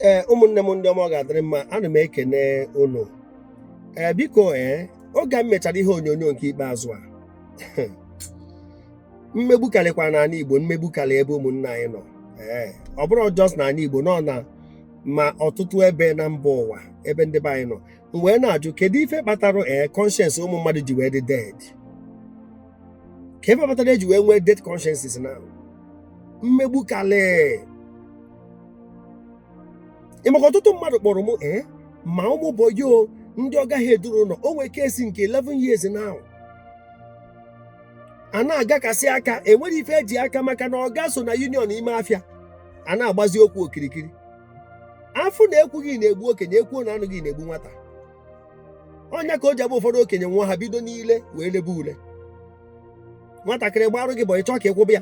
ee ụmụnne m ndị ọma ọ ga-adịrị mma ana m ekene unu ee biko ee oge m mechara ihe onyonyo nke ikpeazụ a mmegbu karịkwa n'ala igbo mmegbu karị ebe ụmụnne anyị nọ ee ọ bụrọ just n'ala igbo nọ na ma ọtụtụ ebe na mba ụwa ebe ndị be anyị nọ m wee na-ajụ kedu ife kpatara ee conscience ụmụ mmadụ ji wee dị dead ka ife kpatara eji wee nwee dead consciences na mmegbu karị ị maka ọtụtụ mmadụ kpọrọ m ee ma ụmụ bọyị o ndị ọga ya edurọ ụlọ o nwee case nke 11 years now a na-agakasị aka enwerọ ife e ji aka maka na ọga so na union ime afịa a na-agbazi okwu okirikiri afụ na ekwughị na-egbu okenye ekwuo na anụghị na-egbu nwata ọ nya ka o ji abụ ụfọdụ okenye nwa ha bido n'ile wee lebe ule nwatakịrị gbarụ gị bọyị ịchọ ka ị kwụba ya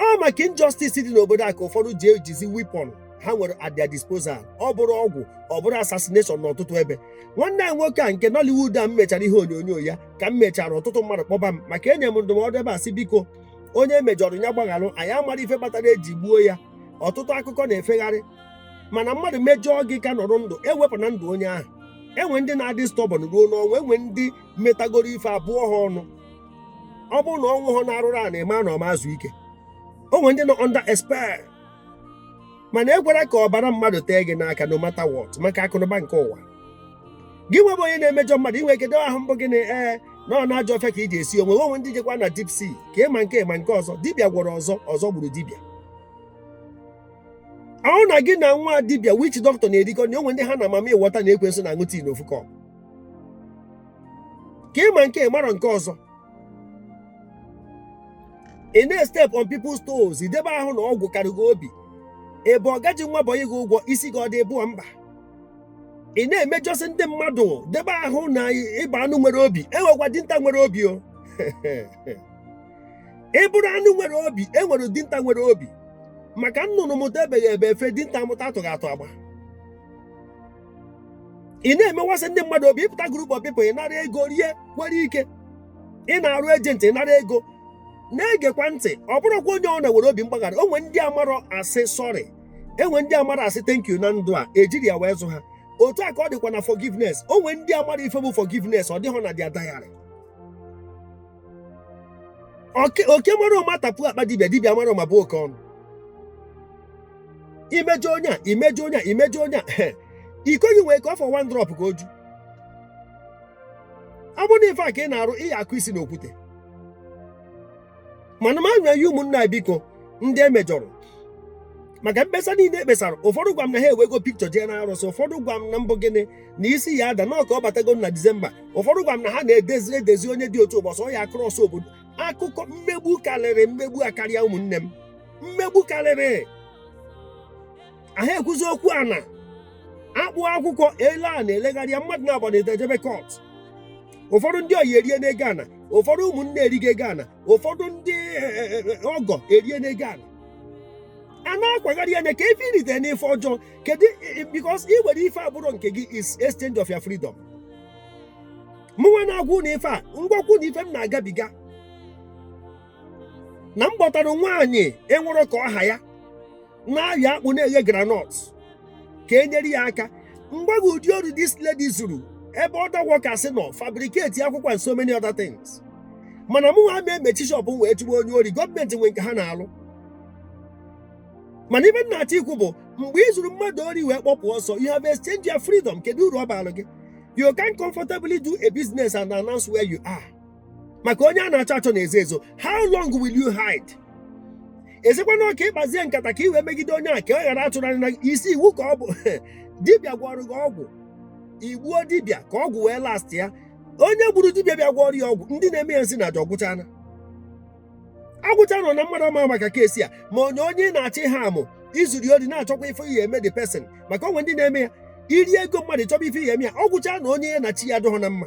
ọ maka injustice dị n'obodo a ka ụfọdụ ji ejizi weapon ha nwere at their disposal ọ bụrụ ọgwụ ọ bụrụ assassination n'ọtụtụ ebe nwanne anyị nwoke a nke Nollywood a m mechara ihe onyonyo ya ka m mechara ọtụtụ mmadụ kpọba m maka enye m ndụmọdụ ebe a sị biko onye e mejọrọ ya gbagharụ anyị amarọ ife kpatara eji gbuo ya ọtụtụ akụkọ na-efegharị mana mmadụ mejọọ gị ka nọrọ ndụ ewepụna ndụ onye ahụ enwe ndị na-adị stubborn ruo n'ọnwụ enwe ndị metagoro ife a bụọ ha ọnụ ọ bụrụ na ọ nwụhọ n'arụrụ ọ na-eme na ọ ma-ezu ike o nwere ndị nọ under a spell mana ekwela ka ọbara mmadụ tee gị n'aka no matter what maka akụnụba nke ụwa gị nwa bụ onye na-emejọ mmadụ inwe kedo ahụ mbụ gị na ee na ọ n'ajọ ọfịa ka ị ji esi onwe o nwee ndị jekwa na deep sea ka ị ma nke a ma nke ọzọ dibịa gwọrọ ọzọ ọzọ gburu dibịa ahụ na gị na nwa dibịa witch doctor na-erikọ na o nwee ndị ha na mami wọta na ekwensu na-aṅụ tea n'ofu cup ka ị ma nke a ị marọ nke ọzọ ị na-estep on people's toes i debe ahụ na ọgwụ kara gị obi ị bụ ọga ji nwa bọyị gị ụgwọ isi gị ọ dị ịbụọ mba ị na-emejọsị ndị mmadụ debe ahụ na ị bụ anụ nwere obi enwekwa dinta nwere obi o ị bụrụ anụ nwere obi e nwere dinta nwere obi maka nnụnụ mụta ebeghị ebe efe dinta mụta atụghị atụ agba ị na-emewasị ndị mmadụ obi ị pụta group of people ị nara ego rie kwere ike ị na-arụ agent ị nara ego na-egekwa ntị ọ bụrọkwa onye ọbụna nwere obi mgbaghara o nwee ndị amarọ asị sorry enwe ndị amarọ asị thank you na ndụ a ejirọ ya wee zụ ha otu a ka ọ dịkwa na forgiveness o nwee ndị amarọ ife bụ forgiveness ọ dịghọ na their diary oke mara ụma tapuo akpa dibịa dibịa mara ụma bụọ oke ọnụ i mejọọ onye a i mejọọ onye a i mejọọ onye a iko gị nwee ka ọ fọ one drop ka o ju ọ bụrụ na ife a ka ị na-arụ ị ya-akụ isi n'okwute mana m anya ya ụmụnna biko ndị e mejọrọ maka mkpesa niile e kpesara ụfọdụ gwa m na ha ewego pikchọ jee n'arụsị ụfọdụ gwa m na mbụ gịnị na isi ya ada n'ọka ọ batago na disemba ụfọdụ gwa m na ha na-edezi onye dị otu ụbọchị ọ ya krọs obodo akụkọ mmegbu karịrị mmegbu akarịa ụmụnne m mmegbu karịrị ahụ ekwuzi okwu ana akpụ akwụkwọ ele a na-elegharị ya mmadụ naabọ na edejebe kọt ụfọdụ ndị ọyị erie n'ego ana ụfọdụ ụmụnne erigo ego ana ụfọdụ ndị eh, eh, eh, ọgọ erie n'ego ana a na-akwagharị ya na ka ife i rite n'ife ọjọọ kedu because ị nwere ife abụrọ nke gị is exchange of your freedom mụnwa na-agwa unu ife a m gwakwa unu ife m na-agabiga na m kpọtara nwaanyị enwerọ ka ọ ha ya na-ahịa akpụ na-eghe granọt ka e nyere ya aka m gwa gị ụdị ori this lady zuru ebe other workers nọ fabricate akwụkwọ and so many other things mana mụnwa ama emechi shọpụ wee chụba onye ori gọọmenti nwe nke ha na-alụ mana ife m na-achọ ikwu bụ mgbe i zuru mmadụ ori wee kpọpụ ọsọ you have exchanged your freedom kedu uru ọ bara gị you can comfortably do a business and announce where you are maka onye a na-achọ achọ na-ezo ezo how long will you hide ezekwa na ọka ị kpazie nkata ka ị wee megide onye a ka ọ ghara atụrụ anya na gị. isi iwu ka ọ bụ dibịa gwọrọ gị ọgwụ i gbuo dibịa ka ọgwụ wee last ya onye gburu dibịa bịa gwọrọ ya ọgwụ ndị na-eme ya nsị na aja ọ gwụchana agwụcha nọ na mmadụ ama maka keesi a ma onye onye na-achọ ihe amụ i zuru ori na-achọkwa ife ị ya-eme the person maka o nwee ndị na-eme ya i rie ego mmadụ chọba ife ị ya-eme ya ọ gwụcha na onye ya na chi ya adịghọ na mma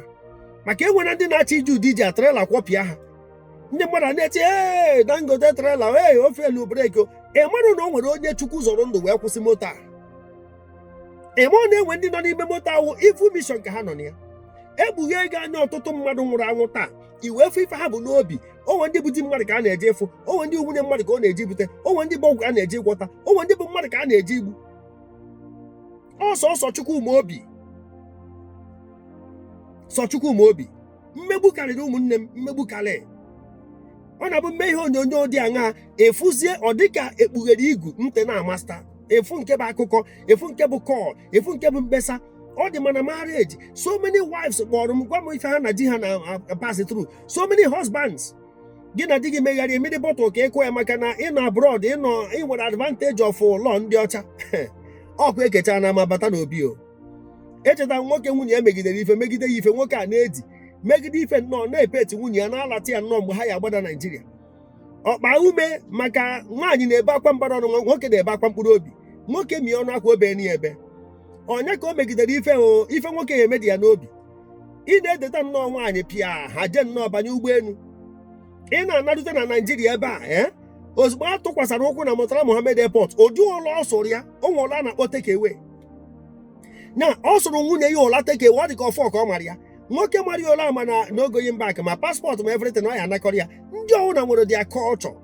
maka e nwere ndị na-achọ iji ụdị iji atrela kwọpịa ha ndị mmadụ a na-eche ee dangote trela ee ọ feelụ breki ị marọ na o nwere onye chukwu zọrọ ndụ wee kwụsị moto a ị marọ na e nwee ndị nọ n'ime moto ahụ evil mission ka ha nọ na ya e kpughee gị anya ọtụtụ mmadụ nwụrụ anwụ taa i wee fụ ife ha bu n'obi o nwee ndị bụ di mmadụ ka ha na-eje ịfụ o nwee ndị nwunye mmadụ ka ọ na-eje ibute o nwee ndị bụ ọgwụ ka ha na-eje ịgwọta o nwee ndị bụ mmadụ ka ha na-eje igbu ọ sọsọ Chukwu ma obi sọ Chukwu ma obi mmegbu karịrị ụmụnne m mmegbu karịrị ọ na-abụ m mee ihe onyonyo dị aṅa efuzie ọ dịka e kpughere igu ntị na-amasta ị fụ nke bụ akụkọ ị fụ nke bụ kọl ị fụ nke bụ mkpesa ọ dị ma na marriage so many wives kpọrọ m gwa m ife ha na di ha na-pass through so many husbands gị na di gị megharịa i were bottle ka ịkụ ya maka na ị nọ abroad i nwere advantage of law ndị ọcha ọkwa e kechaa n'ama bata n'obi o echeta nwoke nwunye ya megidere ife megide ya ife nwoke a na-edi megide ife nnọọ na-epeti nwunye ya na-alata ya nnọọ mgbe ha ya-agbada naijiria ọkpa ume maka nwaanyị na-ebe akwa mbara ọnụ nwoke na-ebe akwa mkpụrụ obi nwoke mie ọnụ akwa obe ni ebe onye ka o megidere ife o ife nwoke ya-eme dị ya n'obi ị na-edeta nnọọ nwaanyị pịa ha jee nnọọ banye ụgbọelu ị na-anarute na naijiria ebe a ee ozugbo a tụkwasara ụkwụ na Murtala Mohammed Airport ụdị ụla ọ sụrụ ya o nwe ụla a na-akpọ takeaway na ọ sụrụ nwunye ya ụla takeaway ọ dị ka ọfọ ka ọ mara ya nwoke mara ya ụla a ma na no going back ma paspọtụ ma everything ọ ya-anakọrọ ya ndị ọwụna nwere their culture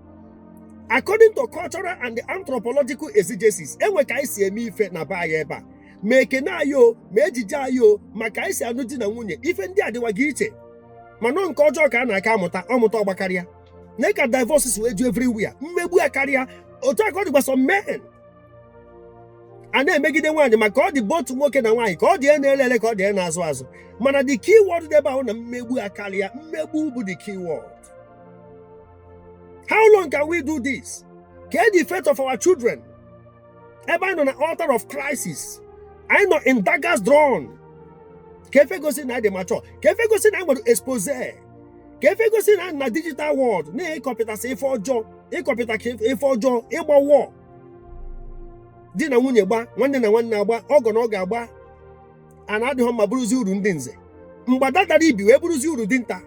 according to cultural and anthropological exigencies e nwe ka anyị si eme ife na be anyị ebe a ma ekene anyị o ma ejiji anyị o ma ka anyị si anụ di na nwunye ife ndị a dịwaga iche mana nke ọjọọ ka a na-aka amụta ọmụta ọgbakarịa nya ka divorce si wee ju everywhere mmegbu akarịa otu a ka ọ dịkwa some men a na-emegide nwaanyị maka ọ dị both nwoke na nwaanyị ka ọ dị na-ele ele ka ọ dị na-azụ azụ mana the key word dị ebe ahụ na mmegbu akarịa mmegbu bụ the key word how long can we do this kee the fate of our children ebe anyị nọ na altar of crisis anyị nọ in daggers drawn ka efe gosi na anyị dị mature ka efe gosi na anyị nwere expose ka efe gosi na anyị nọ na digital world na-ekọpịtasị ife ọjọọ ịkọpịta ka ife ọjọọ ịgba war di na nwunye gba nwanne na nwanne agba ọgọ na ọgọ agba ana adịghọ mma bụrụzi uru ndị nze mgbada dara ibi wee bụrụzi uru dinta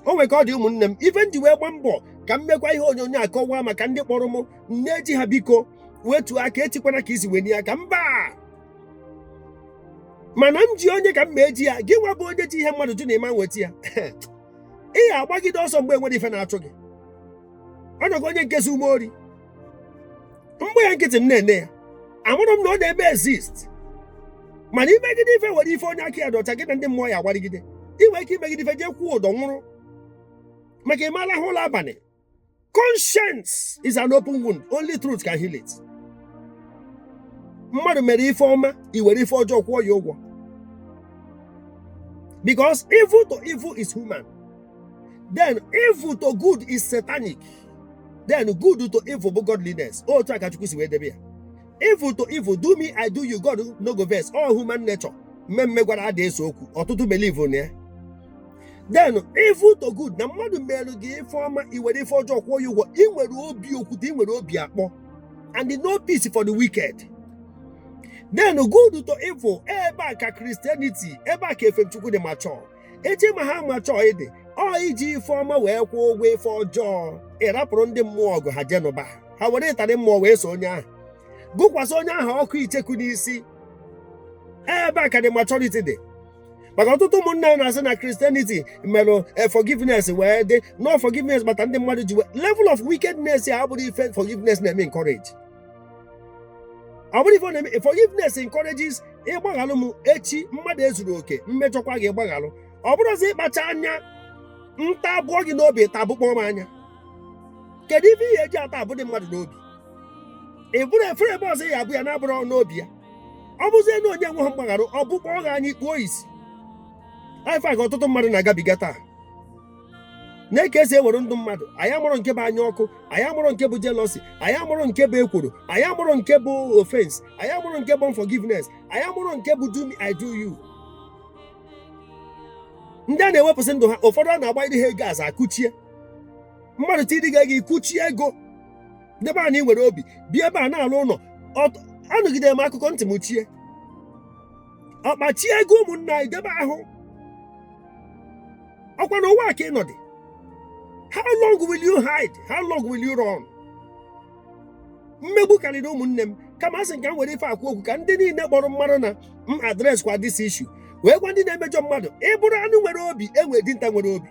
o nwere ka ọ dị ụmụnne m ife m ji wee gbaa mbọ ka m mekwa ihe onyonyo a kọwaa maka ndị kpọrọ m nne ji ha biko wetuo aka echikwana ka isi wenie aka mba mana m ji onye ka mma eji ya gị nwa bụ onye ji ihe mmadụ jụ na ị ma-eweta ya ị ga-agbagide ọsọ mgbe enwere ife na-achụ gị o nwego onye nke zu m ori m gba ya nkịtị m na-ene ya amarọ m na ọ na-eme exist mana i megide ife were ife onye aka ya dị ọcha gị na ndị mmụọ ya agbarigide ị nwere ike imegide ife jee kwụọ ụdọ nwụrụ maka ị ma-alahụ ụla abalị conscience is an open wound only truth can heal it mmadụ mere ife ọma i were ife ọjọọ kwụọ ya ụgwọ because evil to evil is human then evil to good is satanic then good to evil bụ godliness otu a ka Chukwu si wee debe ya evil to evil do me I do you God no go vex all human nature mee m mmegwara ada ese okwu ọtụtụ believe na ya then evil to good na mmadụ merụ gị ife ọma i were ife ọjọọ kwụọ ya ụgwọ ị nwere obi okwute ị nwere obi akpọ and no peace for the wicked then good to evil ebe a ka Christianity ebe a ka efe Chukwu dị mature eji ama ha maturity ọ iji ife ọma wee kwụọ ụgwọ ife ọjọọ ịrapụrụ ndị mmụọ ọgụ ha je nụba ha were ịtarị mmụọ wee so onye ahụ gụkwasị onye ahụ ọkụ icheku n'isi ebe a ka the maturity dị maka ọtụtụ ụmụnna anyị na-asị na Christianity merụ eh, forgiveness wee dị na ọ forgiveness kpata ndị mmadụ ji nwee level of wickedness a abụrụ ife forgiveness na-eme encourage ọ bụrụ ife ọ na-eme forgiveness encourages ịgbaghalụ m echi mmadụ ezuro oke mmejọkwa gị ị gbaghalụ ọ bụrụzi ịkpacha anya ntaa bụọ gị n'obi taa bụkpọọ m anya kedu ife ị ga-eji ata abụdị mmadụ n'obi ị bụrụ efere ebe ọzọ ya bụ ya na-abụrụ n'obi ya ọ bụrụzie na onye nweghị mgbagharụ ọ bụkpọọ gị anya ị kpuo isi ife a ka ọtụtụ mmadụ na-agabiga taa nee ka esi ewere ndụ mmadụ anyị amụrụ nke bụ anya ọkụ anyị amụrụ nke bụ jealousy anyị amụrụ nke bụ ekworo anyị amụrụ nke bụ offense anyị amụrụ nke bụ unforgiveness anyị amụrụ nke bụ do me i do you ndị a na-ewepụsị ndụ ha ụfọdụ a na-agba ndị ha ego aza akụchie mmadụ ti dịga gị kụchie ego debe a na ị nwere obi bịa ebe a na-alụ ụnọ anụgide m akụkọ ntị m chie ọkpachi ego ụmụnna anyị debe ahụ ọkwa n'ụwa ka ị nọdị how long will you hide how long will you run mmegbu karịrị ụmụnne m kama asị ka m were ife a kwuo okwu ka ndị emegburu marụ na m address kwa this issue wee gwa ndị na-emejọ mmadụ ị bụrụ anụ nwere obi e nwee dinta nwere obi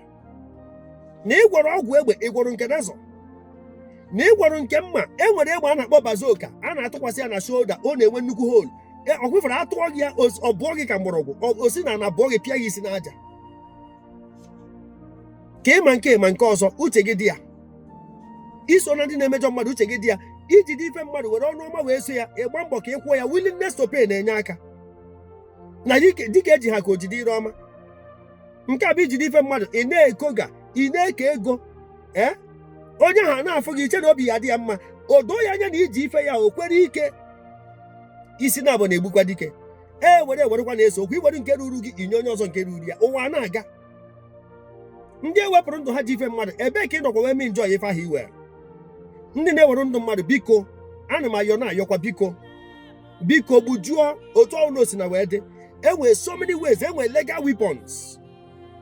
na ịgwọrọ ọgwụ egbe ịgwọrọ nke nazọ na ịgwọrọ nke mma e nwere egbe a na-akpọ bazooka a na-atụkwasị ya na shoulder ọ na-enwe nnukwu hole E, ọ kwefere atụọ gị ya os- ọ bụọ gị ka mgbọrọgwụ ọ- o si n'ana bụọ gị pịa gị isi n'aja ka ịma nke ịma nke ọzọ uche gị dị ya iso na ndị na-emejọ mmadụ uche gị dị ya ijide ife mmadụ were ọnụ ọma wee so ya ịgba mbọ ka ị kwụọ ya willingness to pay na-enye aka na dịka eji ha ka ojide ire ọma nke a bụ ijide ife mmadụ ị na-ekoga ị na-eke ego ee onye ahụ ana-afụ gị ị chee na obi ya dị ya mma o doo ya anya na i ji ife ya o kwere ike isi na abụ na-egbukwa dike e were ewerekwa na-ese okwu i were nke ruru gị i nye onye ọzọ nke ruru ya ụwa ana-aga ndị ewepụrụ ndụ ha ji ife mmadụ ebee ka ị nọkwa wee mee enjoy ife ahụ i were ndị na-ewere ndụ mmadụ biko ana m ayọ na-ayọkwa biko biko gbujuo otu ọbụla o sina wee dị enwere so many ways enwere legal weapons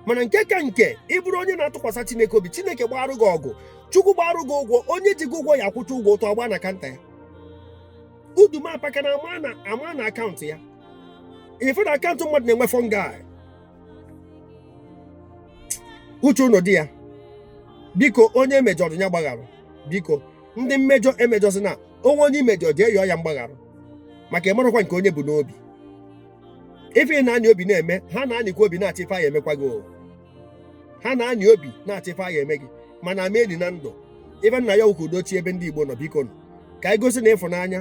mana nke ka nke ịbụrụ onye na-atụkwasị chineke obi chineke gbaarụ gị ọgụ chukwu gbaarụ gị ụgwọ onye ji gị ụgwọ ya akwụcha ụgwọ ụtụ agbaa na akaụntụ ya udumapakara amaa na akaụntụ ya ụfọdụ akaụntụ mmadụ na-enwe fungi uche ụnụ dị ya biko onye e mejọrọ ya gbaghara biko ndị mmejọ emejọzina o nwee onye i mejọ jee yọọ ya mgbaghara maka ị marọkwa nke onye bu n'obi ife ị na-anyị obi na-eme ha na-anyịkwa obi na-achọ ife a ga-emekwa gị ha na-anyị obi na-achọ ife a ga-eme gị mana a ma-eli na ndụ ife m na-ayọkwu ka udo chie ebe ndị Igbo nọ bikonụ ka anyị gosi na ịfụnanya